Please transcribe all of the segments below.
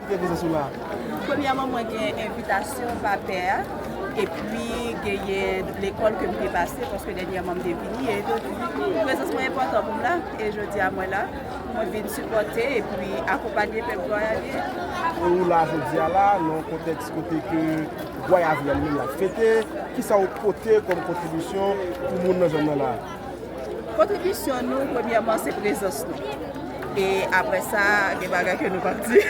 Premyèman mwen gen envitasyon vapè a epi genyen lekòl ke m te pase paske dènyèman m te vini e donk prezans mwen enpòtan pou m la e jodi a mwen la mwen vin sipòte epi akonpanye pèp gwayavyè. E ou la jodi a la nan yon kontèks kote ke gwayavyè li menm l ap fete, kisa ou pote kòm kontribisyon pou moun nan zòn nan la? Kontribisyon nou premyèman se prezans nou e aprè sa gen bagay ke nou pap di,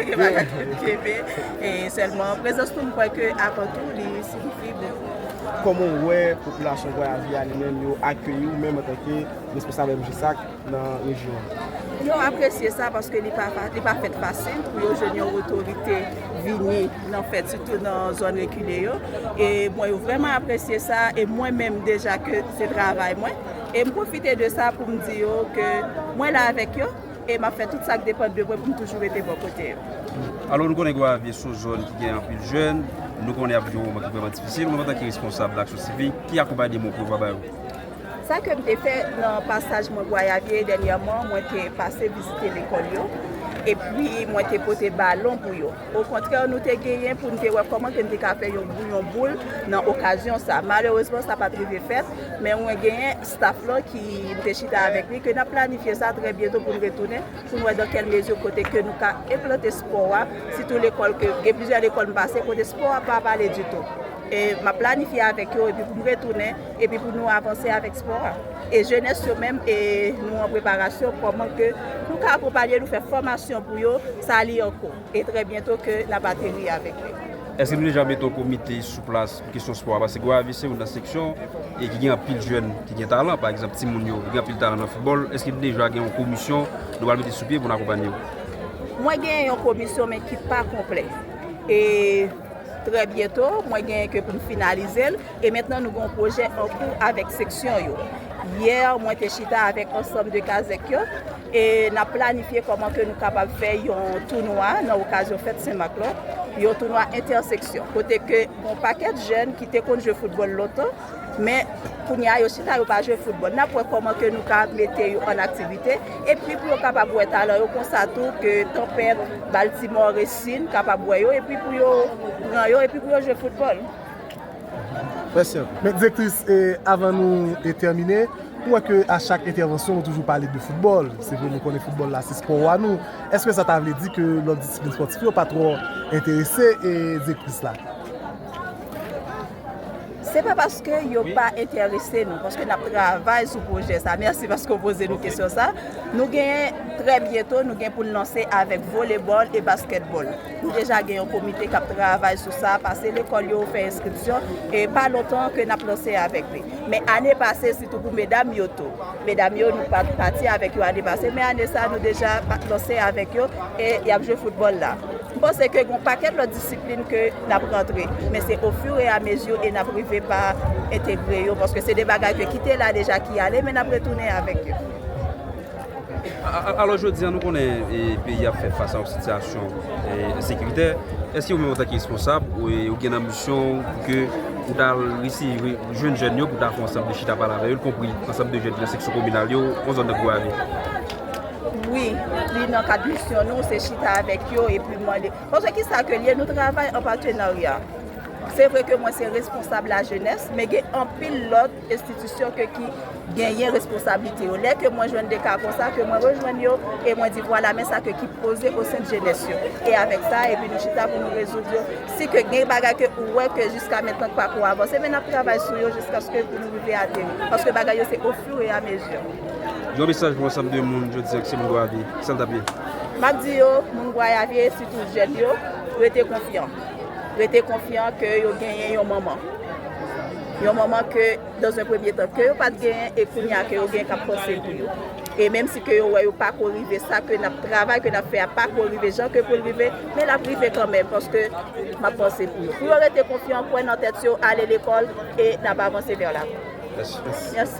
gen bagay ke nou kenbe e sèlman prezans nou m kwè ke avan tou li siyifi bokou. Kòman ou wè popilasyon Gonavi a li menm yo akeyi ou menm antanke responsab MJSAK? nan rejyon an. Yo apresye sa paske li pa fèt fasil pou yo jwenn yon otorite vini nan fèt sitou nan zòn rekile yo e mwen yo vrèman apresye sa e mwen menm deja ke se travay mwen e m pwofite de sa pou m di yo ke mwen la avèk yo e m ap fè tout sa k depann de mwen pou m toujou rete bò kote yo. Alò, nou konnen Gonaviv son zòn ki gen anpil jèn, nou konnen ap viv yon moman ki vrèman difisil, ou menm antanke responsab nan aksyon sivik, ki akonpayman ou prevwa ba yo? Sa ke m te fè nan pasaj mwen vwayage dènyèman, mwen te pase vizite lekòl yo, epi mwen te pote balon pou yo. Okontrè, nou te genyen pou n te wè kòman ke n te ka fè yon bouyon boul nan okazyon sa a. Malerezman, sa pa t rive fèt, men mwen genyen staf lan ki m te chita avèk li, ke n ap planifye sa trè byento pou n retounen, pou n wè dan kèl mezi kote ke nou ka enplante spò a, sitou lekòl ke, gen plizyè lekòl m pase kote spò a pa pale ditou. E m ap planifye avèk yo epi pou m retounen epi pou nou avanse avèk spò a. E jenès yo menm e nou an preparasyon kòman ke nou ka akonpanye, nou fè fòmasyon pou yo, sa li an kou. E trè byento ke n ap ateri avèk yo. Èske nou deja mete yon komite sou plas pou kesyon spò a? Paske Gonayiv se youn nan seksyon e ki gen anpil jèn ki gen talan. Pa egzanp timoun yo, yo gen anpil talan nan foutbòl. Èske nou deja gen yon komisyon nou pral mete sou pye pou n akonpanye yo? Mwen gen yon komisyon men ki pa konplè. E. Trè byento, mwen genyen ke pou m finalize l, e mentnan nou gen yon pwojè an kou avèk seksyon yo. Yè, mwen te chita avèk ansanm de kazèk yo, e n ap planifye kòman ke nou kapab fè yon tounwa nan okazyon fèt Sen Mak lan, yon tounwa entèseksyon, kote ke gen yon pakèt jèn ki te konn jwe foutbòl lontan, Men, kounye a, yo chita, yo pa jwe foutbòl. N ap wè kòman ke nou ka mete yo an aktivite, epi pou yo kapab wè talan yo, konsa tou ke tanpèt, baltimò, resin, kapab wè yo, epi pou yo pran yo, epi pou yo jwe foutbòl. Mèsi anpil. Men, direktris, avan nou tèmine, nou wè ke a chak entèvansyon nou toujou pale de foutbòl. Se vre, nou konnen foutbòl la se spò wa nou. Eske sa ta vle di ke lòt disiplin spòtif yo pa twò enterese direktris la? Se pa paske yo pa entèrese nou, paske n ap travay sou pwojè sa. Mèsi paske w poze nou kesyon sa. Nou gen, trè byento, nou gen pou n lanse avèk volebòl e baskètbòl. Nou deja gen yon komite k ap travay sou sa, pase lekòl yo, fè enskripsyon, e pa lontan ke n ap lanse avèk li. Men ane pase, sitou pou medam yo tou. Medam yo, nou pa t pati avèk yo ane pase, men ane sa a nou deja lanse avèk yo, e y ap jwe foutbòl la. M panse ke gon pakèt lòt disiplin ke nap rantre, men se o fur et à mesure e nap rive pa entegre yo paske se de bagay ke ki te la deja ki ale men nap retounen avèk yo. Alò jodi an nou konnen peyi a ap fè fas a yon sitiyasyon ensekiritè, èske ou menm antanke responsab ou gen nan misyon ou pou ke ou ta resi jwenn jèn yo pou ta fè yon ansanm de chita pale avè yo, ykonpri ansanm de jèn ki nan seksyon kominal yo, yon zòn nan Gonayiv? Wi, li nan kad misyon nou, se chita avèk yo epi mande. Paske ki sa ke l ye, nou travay an patenarya. Se vre ke mwen se responsab lajenès, men gen anpil lòt enstitisyon ke ki genyen responsablite yo. Lè ke mwen jwenn de ka konsa, ke mwen rejwenn yo, e mwen di vwala men sa ke ki poze osen de jenès yo. E avèk sa, epi nou chita pou nou rezoud yo. Si ke gen bagay ke ou wè ke jiska mentnan ki pa ko avanse, men n ap travay sou yo jiskaske pou nou rive ateri. Paske bagay yo se ofur e a mezi. Yon mesaj pou ansanm de moun jodi an ki se moun Gwayavi, kisa n t ap ye? M ap di yo, moun Gwayavi e sitou jèn yo, rete konfyan. Rete konfyan ke yo genyen yon manman. Yon manman ke, dans un premier temps, ke yo pa t genyen e kounye a ke yo genyen k ap panse pou yo. E menm si ke yo wè yo pako rive, sa ke n ap travay, ke n ap fè a pako rive jan ke pou l rive, men l ap rive kanmenm paske m ap panse pou yo. Pou yo rete konfyan, kwè nan tèt yo, ale lekòl e n ap avanse vè lavan. Mèsi.